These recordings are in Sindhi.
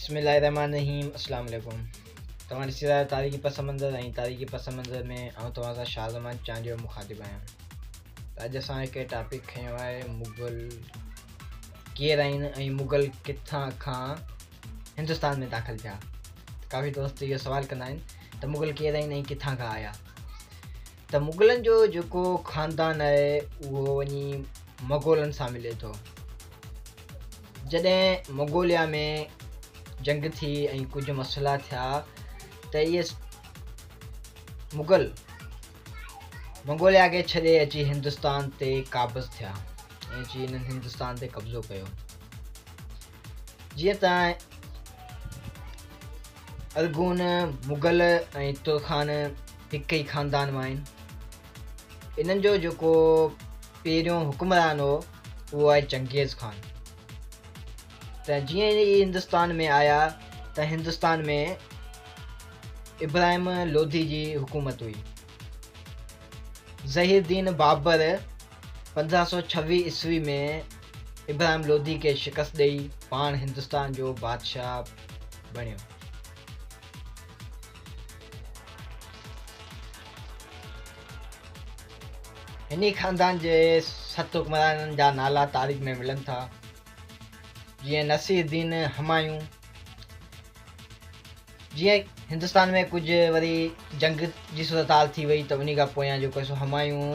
بسم الله الرحمن الرحيم اسلام عليڪم توهان ڏسي رهيا تاريخي پس منظر ۽ تاريخي پس منظر ۾ آئون توهان سان شاهه زمان چانڊيو مخاطب آهيان اڄ اسان هڪ ٽاپڪ کنيو آهي مغل ڪير آهن ۽ مغل ڪٿان کان هندستان ۾ داخل ٿيا ڪافي دوست اهو سوال ڪندا آهن ته مغل ڪير آهن ۽ ڪٿان کان آيا ته مغلن جو جيڪو خاندان آهي اهو وڃي مغولن سان ملي ٿو جڏهن مغوليا ۾ جنگ ٿي ۽ ڪجهه مسئلا ٿيا ته اهي مغل مغوليا کي ڇڏي اچي هندستان تي قابض ٿيا ۽ اچي هنن هندستان تي قبضو ڪيو جيئن ته ارغون، مغل ۽ ترخان هڪ ئي خاندان مان آهن. انهن جو جيڪو پهريون حڪمران هو اهو آهي چنگيز خان. ته جيئن ئي هندستان ۾ آيا ته هندستان ۾ ابراهيم لوڌي جي حڪومت هئي. ظهير دين بابر پندرهن سؤ ڇويهه عيسوي ۾ ابراهيم لوڌي کي شڪست ڏئي پاڻ هندستان جو بادشاهه بڻيو. هنئي خاندان جي ست حڪمرانن جا نالا تاريخ ۾ ملن ٿا، جيئن نصير الدين همايون، جيئن هندستان ۾ ڪجهه وري جنگ جي صورتحال ٿي وئي ته انهي کان پويان جيڪو سو همايون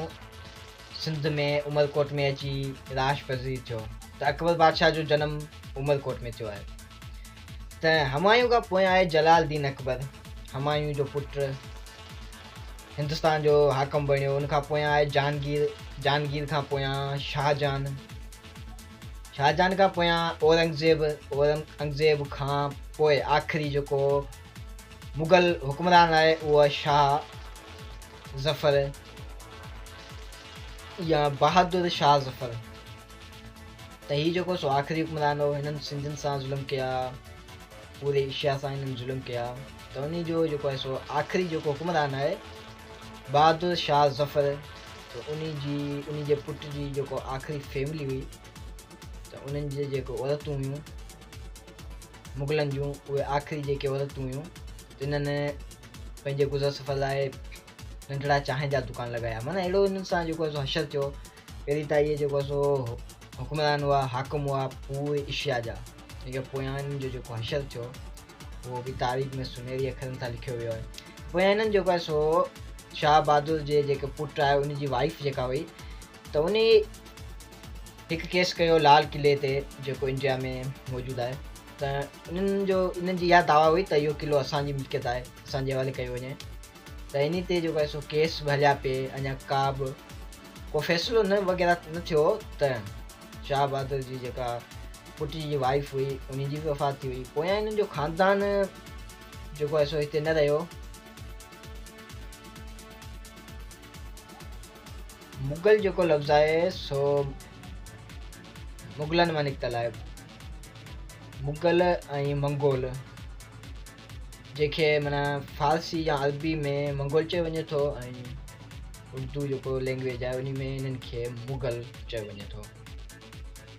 سنڌ ۾ عمر ڪوٽ ۾ اچي راش پذير ٿيو ته اڪبر بادشاهه جو جنم عمر ڪوٽ ۾ ٿيو آهي ته همايون کان پويان آهي جلال الدين اڪبر همايون جو پٽ هندستان جو حاڪم بڻيو ان کان پويان آهي جهانگير جهانگير کان پويان شاهجهان شاهجهان کان پويان اورنگزيب، اورنگزيب کان پوء آخري جيڪو مغل حڪمران آهي اهو شاهه ظفر يا بهادر شاهه ظفر ته هي جيڪو سو آخري حڪمران هو هنن سنڌين سان ظلم ڪيا پوري ايشيا سان هنن ظلم ڪيا ته انهي جو جيڪو آهي سو آخري جيڪو حڪمران آهي بهادر شاهه ظفر ته انهي جي انهي جي پٽ جي جيڪو آخري فيملي هئي ته انهن جي جيڪو عورتون هيون مغلن جون اهي آخري جيڪي عورتون هيون تنهن پنهنجي گذر سفر لاء ننڍڙا چانهن جا دڪان لڳايا معنيٰ اهڙو انهن سان جيڪو سو حشر ٿيو پهرين ته اهي جيڪو سو حڪمران هئا حاڪم هئا پوري اشيا جا جيڪي پويان جو جيڪو حشر ٿيو اهو به تاريخ ۾ سنهري اکرن سان لکيو ويو آهي. پويان هنن جيڪو آهي سو شاهه بهادر جي جيڪي پٽ آهي ان جي وائيف جيڪا هئي ته انهي هڪ ڪيس ڪيو لال قلعي تي جيڪو انڊيا ۾ موجود آهي ته انهن جو انهن جي اها دعويٰ هئي ته اهو قلعو اسان جي ملڪيت آهي اسان جي حوالي ڪيو وڃي ته انهي تي جيڪو آهي سو ڪيس به هليا پي اڃا ڪا به ڪو فيصلو نه وغيره نه ٿيو ته شاهه بهادر جي جيڪا پٽي جي وائيف هئي انهي جي به وفات ٿي وئي پويان انهن جو خاندان جيڪو آهي سو هتي نه رهيو مغل جيڪو لفظ آهي سو مغلن مان نڪتل آهي مغل ۽ منگول جنهن کي معنيٰ فارسي يا عربي ۾ منگول چيو وڃي ٿو ۽ اردو جيڪو لينگويج آهي انهي ۾ انهن کي مغل چيو وڃي ٿو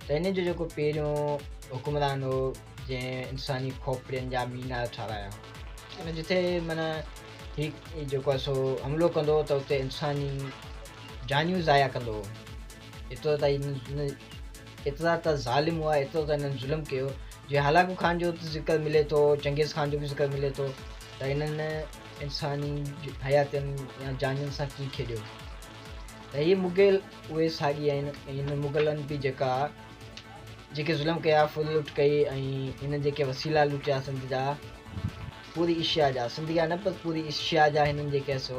ته انهن جو جيڪو پهريون حڪمران هو جنهن انساني کوپڙين جا مينار ٺارايا ۽ جتي معنيٰ هي جيڪو آهي سو حملو ڪندو هو ته اتي انساني جانيون ضايع ڪندو هو ايترو ته ڪيترا ته ظالم هئا ايترو ته هنن ظلم ڪيو جي هلاڪو خان جو ته ذڪر ملي ٿو چنگيز خان جو به ذڪر ملي ٿو ته هنن انساني حياتين يا جانين سان ڪيئن کيڏيو ته هي مغل اهي ساڳي آهن هنن مغلن به جيڪا جيڪي ظلم ڪيا ڦر لٽ ڪئي ۽ هنن جيڪي وسيلا لٽيا سنڌ جا پوري ايشيا جا سنڌ جا نه پر پوري ايشيا جا هنن جيڪي سو